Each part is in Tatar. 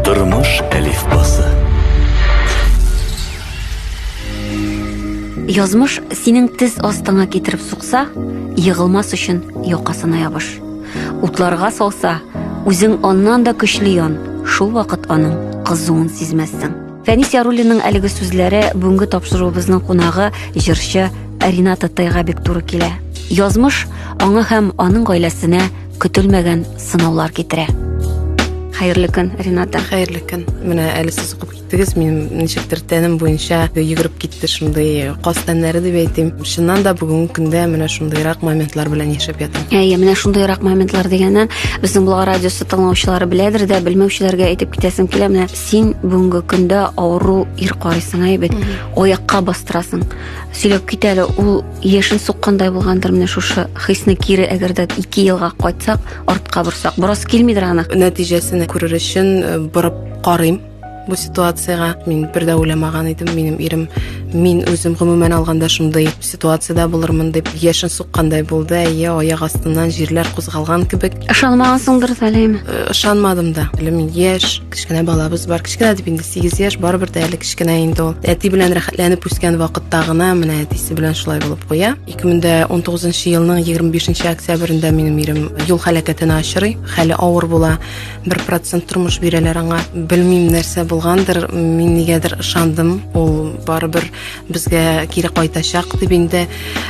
Тормыш әлифбасы. Язмыш синең тез астыңа китереп сукса, егылмас өчен якасына ябыш. Утларга салса, үзең аннан да көчле ян, шул вакыт аның кызуын сизмәссең. Фәнис Яруллинның әлеге сүзләре бүгенге тапшыруыбызның кунагы җырчы Ринат Тайга бик туры килә. Язмыш аңа һәм аның гаиләсенә көтелмәгән сынаулар китерә. Хәерле көн, Рената. Хәерле көн. Менә әле сез укып киттегез, минем ничектер тәнем буенча йөгереп китте шундый каз тәннәре дип әйтим. Чыннан да бүгенге көндә менә шундыйрак моментлар белән яшәп ятам. Әйе, менә шундыйрак моментлар дигәннән, безнең Булга радиосы тыңлаучылары беләдер дә, белмәүчеләргә әйтеп китәсем килә. Менә син бүгенге көндә авыру ир карыйсың, әйбәт. Аякка бастырасың. Сөйләп кит әле, ул Яшен суккандай булгандыр менә шушы хисне кире әгәр дә 2 елга кайтсак, артка борсак, борас килмидер аны. Нәтиҗәсен күрер өчен э, борып карыйм бу ситуацияга. Мин бер дә уйламаган идем, минем ирем мин үзем гомумән алганда шундый ситуациядә булырмын дип яшен суккандай булды әйе аяк астыннан җирләр кузгалган кебек ышанмагансыңдыр сәлим ышанмадым да әле мин яшь Кечкенә балабыз бар. Кечкенә дип инде 8 яшь, барыбер дә әле кечкенә инде ул. Әти белән рәхәтләнеп үскән вакытта гына менә әтисе белән шулай булып куя. 2019 елның 25 октябрендә минем ирем юл һәлакәтенә очрый. Хәле авыр була. 1% тормыш бирәләр аңа. Белмим нәрсә булгандыр, мин нигәдер ышандым. Ул барыбер Безгә кире кайтачак дип инде,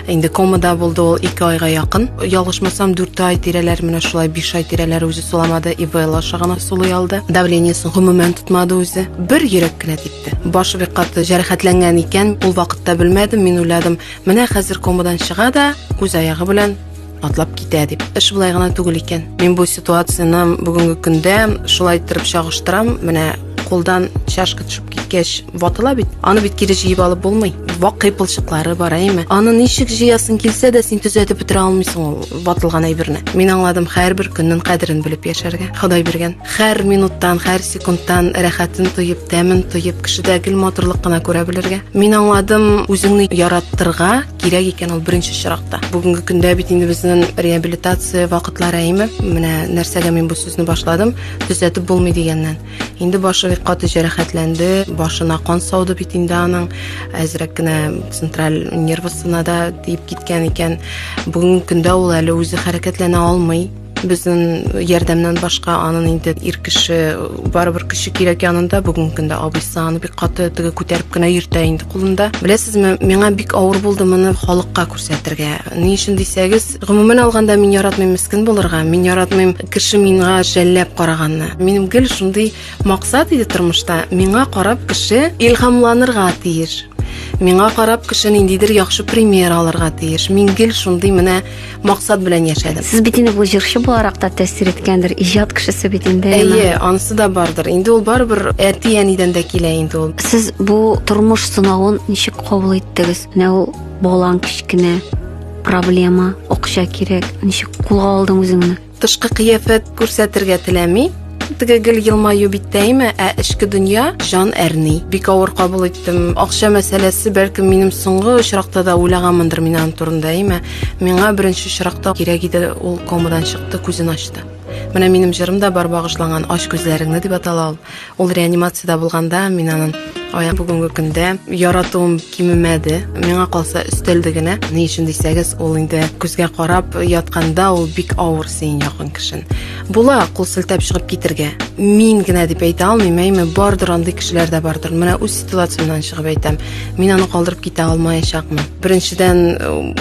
инде комада булды ул ике айга якын. Ялгышмасам, дүрт ай тирәләр менә шулай, биш ай тирәләр үзе суламады, ИБЛ аша гына сулый алды. Давлениесен гомумән тотмады үзе. Бер йөрәк кенә типте. Башы бик каты җәрәхәтләнгән икән, ул вакытта белмәдем, мин уйладым, менә хәзер комадан чыга да, үз аягы белән атлап китә дип. Эш болай гына түгел икән. Мин бу ситуацияне бүгенге көндә шулай иттереп чагыштырам. Менә кулдан чашка төшеп киткәч ватыла бит. Аны бит кире җыеп алып булмый. Вак кыйпылчыклары бар, әйме? Аны ничек җыясың килсә дә син төзәтеп бетерә алмыйсың ул ватылган әйберне. Мин аңладым һәрбер көннең кадерен белеп яшәргә. Ходай биргән. Һәр минуттан, һәр секундтан рәхәтен тоеп, тәмен тоеп, кешедә гел матурлык кына күрә белергә. Мин аңладым үзеңне яраттырга, Кирәк икән ул беренче чиракта. Бүгенге көндә бит инде безнең реабилитация вакытлары әйме. Менә нәрсәгә мин бу сүзне башладым, төзәтеп булмый дигәннән. Инде башы бик каты җәрәхәтләнде, башына кан сауды бит инде аның. Әзрәк кенә централь нервысына да тиеп киткән икән. Бүгенге көндә ул әле үзе хәрәкәтләнә алмый. Безнең ярдәмнән башка анын инде ир кеше барыбер көче кирәк янында бүгенге көндә абыйсы аны бик каты теге күтәреп кенә йөртә инде кулында. Беләсезме, миңа бик авыр булды моны халыкка күрсәтергә. Ни өчен дисәгез, гомумән алганда мин яратмыйм мискен булырга, мин яратмыйм кеше миңа жәлләп караганны. Минем гел шундый максат иде тормышта, миңа карап кеше илһамланырга тиеш. Миңа карап кеше ниндидер яхшы пример алырга тиеш. Мин гел шундый менә максат белән яшәдем. Сез бит инде бу җырчы буларак та тәэсир иткәндер, иҗат кешесе бит инде. Әйе, анысы да бардыр. Инде ул барыбер әти-әнидән дә килә инде ул. Сез бу тормыш сынавын ничек кабул иттегез? Менә ул балаң кечкенә, проблема, акча кирәк. Ничек кулга алдың үзеңне? Тышкы кыяфәт күрсәтергә теләми, теге гел елмаю биттәйме, ә эчке дөнья җан әрни. Бик авыр кабул иттем. Акча мәсьәләсе бәлкем минем соңгы очракта да уйлаганмындыр мин аның турында, әйме. Миңа беренче очракта кирәк иде ул комадан чыкты, күзен ачты. Менә минем җырым да бар багышланган Ач күзләреңне дип атала ул. Ул реанимациядә булганда мин анын аяк бүгенге көндә яратуым кимемәде. Миңа калса өстәлде генә. Ни өчен дисәгез, ул инде күзгә карап ятканда ул бик авыр син якын кешен. Була, кул селтәп чыгып китергә. Мин генә дип әйтә алмыйм, әйме бардыр андый кешеләр дә бардыр. Менә үз ситуациямнан чыгып әйтәм. Мин аны калдырып китә алмаячакмын. Беренчедән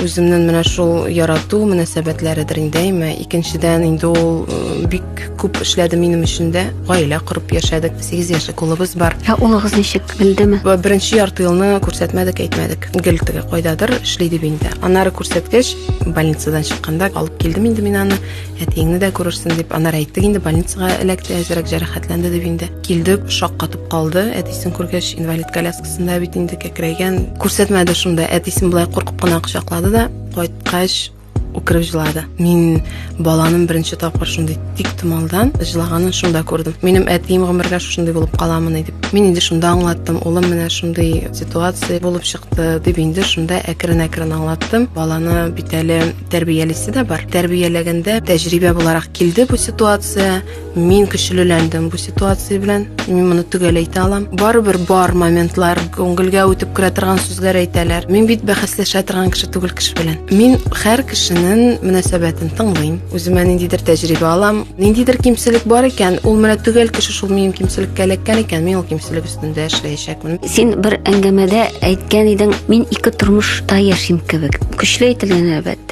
үземнең менә шул ярату мөнәсәбәтләредер инде, әйме. Икенчедән инде ул бик Күп эшләде минем өчен дә. Гаилә корып яшәдек. 8 яшьлек улыбыз бар. Ә улыгыз ничек белдеме? Беренче ярты елны күрсәтмәдек, әйтмәдек. Гел теге кайдадыр эшли дип инде. Аннары күрсәткәч, больницадан чыкканда алып килдем инде мин аны. Әтиеңне дә күрерсең дип. Аннары әйттек инде больницага эләкте, әзрәк җәрәхәтләнде дип инде. Килде, шаккатып калды. Әтисен күргәч, инвалид коляскасында бит инде кәкрәйгән. Күрсәтмәде шунда. Әтисен болай куркып кына кочаклады да, кайткач, Үкереп җылады. Мин баланың беренче тапкыр шундый тик томалдан җылаганын шунда күрдем. Минем әтием гомергә шушындый булып каламыни дип. Мин инде шунда аңлаттым, улым менә шундый ситуация булып чыкты дип инде шунда әкрен-әкрен аңлаттым. Баланы бит әле тәрбиялисе дә бар. Тәрбияләгәндә тәҗрибә буларак килде бу ситуация. Мин көчлеләндем бу ситуация белән. Мин моны төгәл әйтә алам. Барыбер бар моментлар, күңелгә үтеп керә торган сүзләр әйтәләр. Мин бит бәхәсләшә торган кеше түгел кеше белән. Мин һәр кешенең мөнәсәбәтен тыңлыйм. Үземә ниндидер тәҗрибә алам. Ниндидер кимчелек бар икән, ул менә төгәл кеше шул минем кимчелеккә эләккән икән, мин ул кимчелек өстендә эшләячәкмен. Син бер әңгәмәдә әйткән идең, мин ике тормышта яшим кебек. Көчле әйтелгән әлбәттә.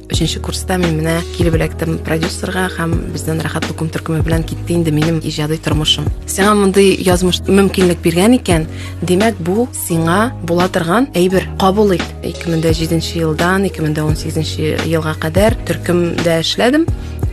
Өченче курста мин менә килеп эләктем продюсерга һәм бездән рәхәт тукым төркеме белән китте инде минем иҗади тормышым. Сиңа мондый язмыш мөмкинлек биргән икән, димәк бу сиңа була торган әйбер. Кабул ит. 2007 елдан 2018 елга кадәр төркемдә эшләдем.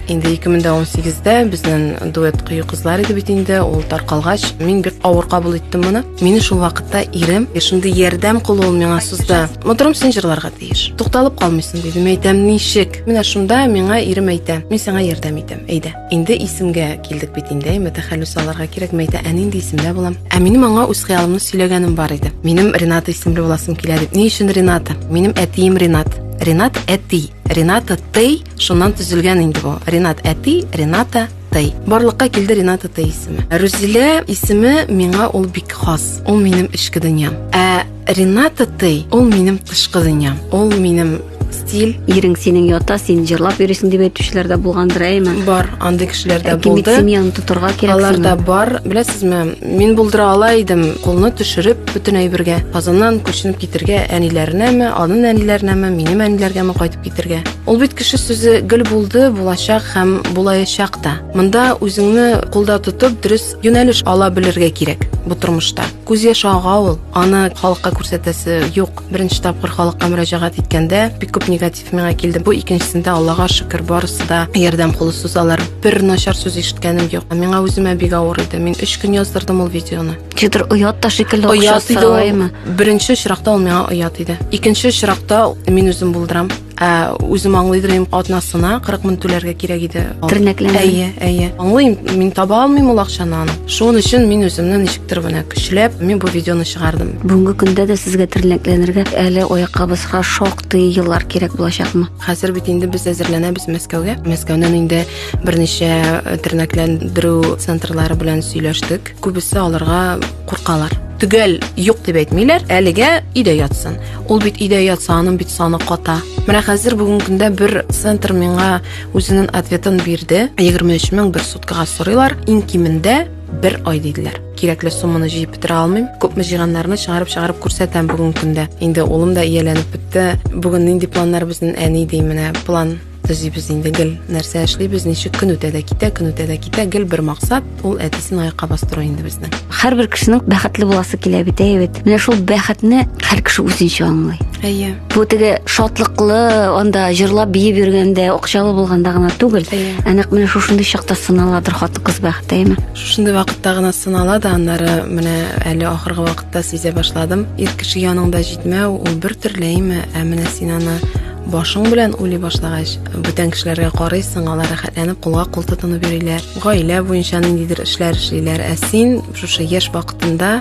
Инде 2018-дә безнең дуэт кыю кызлар иде бит инде, ул таркалгач, мин бик авыр кабул иттем моны. Мине шул вакытта ирем, шундый ярдәм кулы ул миңа сузды. Моторым син җырларга. тиеш. Тукталып калмыйсың, дидем, әйтәм, ничек? Менә шунда миңа ирем әйтә, мин сиңа ярдәм итәм, әйдә. Инде исемгә килдек бит инде, әйме тәхәллүс аларга кирәк, мәйтә, ә нинди исемдә булам? Ә минем аңа үз хыялымны сөйләгәнем бар иде. Минем Рената исемле буласым килә дип. Ни өчен Рената? Минем әтием Ренат. Ренат әти. Рената Тей, шуннан төзелгән инде бу. Ренат әти, Рената Тай. Барлыкка килде Рената Тай исеме. Рузилә исеме миңа ул бик хас. Ул минем эчке дөньям. Ә Рената Тей, ул минем тышкы дөньям, ул минем стиль. Ирең синең ята, син җырлап йөрисең дип әйтүчеләр дә булгандыр, әйме? Бар, андый кешеләр дә булды. Кимит семьяны тотарга кирәк. Алар да бар. Беләсезме, мин булдыра ала идем, кулны төшереп, бөтен әйбергә. Казаннан күченеп китергә әниләренәме, аның әниләренәме, минем әниләргәме кайтып китергә. Ул бит кеше сүзе гел булды, булачак һәм булаячак та. Монда үзеңне кулда тотып, дөрес Юнәлеш ала белергә кирәк бу тормышта. Күз яше ага ул, аны халыкка күрсәтәсе юк. Беренче тапкыр халыкка мөрәҗәгать иткәндә бик күп негатив миңа килде. Бу икенчесендә Аллага шөкер, барысы да ярдәм кулы сузалар. Бер начар сүз ишеткәнем юк. Миңа үземә бик авыр иде. Мин 3 көн яздырдым ул видеоны. Чидер оят та шикелле Оят иде ул. Беренче очракта ул миңа оят иде. Икенче очракта мин үзем булдырам. Ә үзем аңлыйдыр идем, атнасына 40 мең түләргә кирәк иде. Тернәкләнә. Әйе, әйе. Аңлыйм, мин таба алмыйм ул акчаны аны. Шуның өчен мин үземне ничектер генә көчләп, мин бу видеоны чыгардым. Бүгенге көндә дә сезгә тернәкләнергә әле аяккабызга шактый еллар кирәк булачакмы? Хәзер бит инде без әзерләнәбез Мәскәүгә. Мәскәүнән инде берничә э, тернәкләндерү центрлары белән сөйләштек. Күбесе аларга куркалар. Төгәл юк дип әйтмиләр, әлегә өйдә ятсын. Ул бит өйдә ятса, аның бит саны ката. Менә хәзер бүгенге көндә бер центр миңа үзенең ответын бирде. 23 мең бер суткага сорыйлар. Иң кимендә бер ай диделәр. Кирәкле сумманы җыеп бетерә алмыйм. Күпме җыйганнарны чыгарып-чыгарып күрсәтәм бүгенге көндә. Инде улым да ияләнеп бетте. Бүген нинди планнар безнең әни ди менә план Төзибез инде гел. Нәрсә эшлибез, ничек көн үтә дә китә, көн үтә дә китә, гел бер максат, ул әтисен аякка бастыру инде безнең. Һәрбер кешенең бәхетле буласы килә бит, әйе бит. Менә шул бәхетне һәр кеше үзенчә аңлый. Әйе. Бу теге шатлыклы, анда җырлап биеп йөргәндә, акчалы булганда гына түгел. Әйе. Ә нәкъ менә шушындый чакта сыналадыр хатын-кыз бәхете, әйеме? Шушындый вакытта гына сынала да, аннары менә әле ахыргы вакытта сизә башладым. Ир кеше яныңда җитмәү, ул бер төрле, әйеме? Ә менә син аны Башың белән уйлый башлагач, бүтән кешеләргә карыйсың, алар рәхәтләнеп кулга-кул тотынып йөриләр, гаилә буенча ниндидер эшләр эшлиләр, ә син шушы яшь вакытында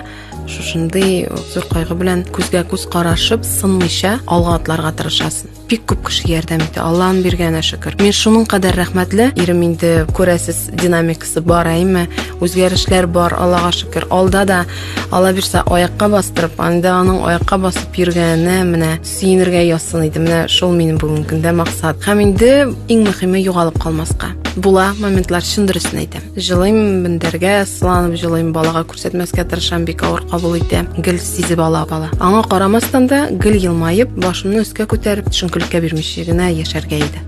шушындый зур кайгы белән күзгә-күз карашып, сынмыйча алга атларга тырышасың. Бик күп кеше ярдәм итә, Алланың биргәненә шөкер. Мин шуның кадәр рәхмәтле, ирем инде күрәсез, динамик Бар әйме, үзгәрешләр бар, Аллага шөкер. Алда да Алла бирсә аякка бастырып, анда аның аякка басып йөргәне менә сөенергә ясын иде. Менә шул минем бүгенге көндә максат. Һәм инде иң мөһиме югалып калмаска. Була моментлар чын дөресен әйтәм. Җылыйм бендәргә, сыланып җылыйм, балага күрсәтмәскә тырышам, бик авыр кабул итә. Гел сизеп ала бала. Аңа карамастан да гел елмаеп, башымны өскә күтәреп, төшенкелеккә бирмичә генә яшәргә иде.